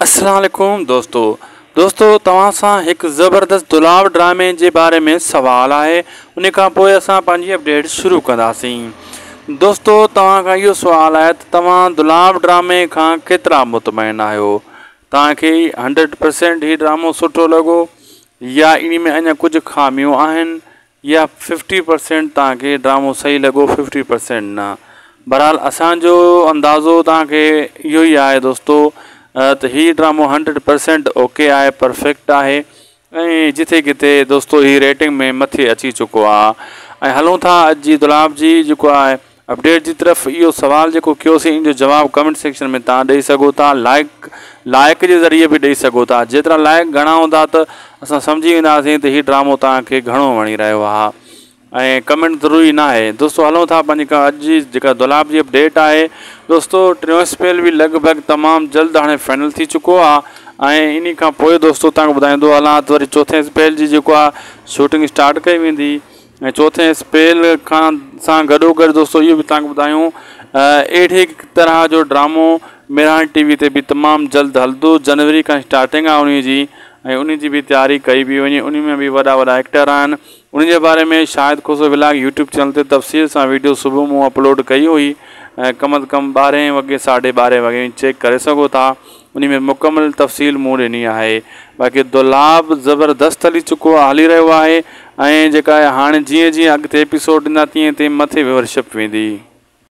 السلام عليڪم دوستو دوستو توهان سان هڪ زبردست دولاب ڊرامي جي باري ۾ سوال آهي انهي کان پوء اسان پنهنجي اپڊيٽ شروع ڪنداسين دوستو توهان کان اهو سوال آهي ته توهان دولاب ڊرامي کان ڪيترا مطمئن آهيو توهان کي هنڊريڊ پرسينٽ هي ڊرامو سٺو لڳو يا انهي ۾ اڃا ڪجهه خاميون آهن يا ففٽي پرسينٽ توهان کي ڊرامو صحيح لڳو ففٽي پرسينٽ نه بھرحال اسانجو اندازو توهان کي اهو ئي آهي دوستو ته هي ڊرامو هنڊريڊ پرسينٽ اوڪي آهي پرفيڪٽ آهي ۽ جٿي ڪٿي دوستو هي ريٽنگ ۾ مٿي اچي چڪو آهي ۽ هلون ٿا اڄ جي دولاب جي جيڪو آهي اپڊيٽ جي طرف اهو سوال جيڪو ڪيوسين ان جو جواب ڪمينٽ سيڪشن ۾ توهان ڏئي سگهو ٿا لائيڪ لائيڪ جي ذريعي به ڏئي سگهو ٿا جيترا لائيڪ گهڻا هوندا ته اسان سمجهي وينداسين ته هي ڊرامو توهان کي گهڻو وڻي رهيو آهي ۽ ڪمينٽ ضروري ناهي دوستو هلون ٿا پنهنجي ڪا اڄ جي جيڪا دولاب جي اپڊيٽ آهي دوستو ٽيون اسپيل به لڳ ڀڳ تمام جلد هاڻي فائنل ٿي چڪو آهي ۽ انهي کان پوء دوستو توهان کي ٻڌائيندو هلان ته وري چوٿين اسپيل جي جيڪو آهي شوٽنگ اسٽارٽ ڪئي ويندي ۽ چوٿين اسپيل کان سان گڏوگڏ دوستو اهو به توهان کي ٻڌايون اهڙي طرح جو ڊرامو ميراڻ ٽي وي تي به تمام جلد هلندو جنوري کان اسٽارٽنگ آهي انهي جي ۽ انهي جي به تياري ڪئي پئي وڃي انهي ۾ به وڏا وڏا ايڪٽر آهن انهن جي باري ۾ Shahid Khoso vlog YouTube channel تي تفصيل سان ويڊيو صبح مون اپلوڊ ڪئي هئي ڪم از ڪم ٻارهين وڳي ساڍي ٻارهين وڳي چيڪ ڪري سگهو ٿا انهي ۾ مڪمل تفصيل مون ڏني آهي باقي دولاب زبردست هلي چڪو آهي هلي رهيو آهي ۽ جيڪا هاڻي جيئن جيئن اڳتي ايپيسوڊ ايندا تيئن تيئن مٿي ويورشپ ويندي.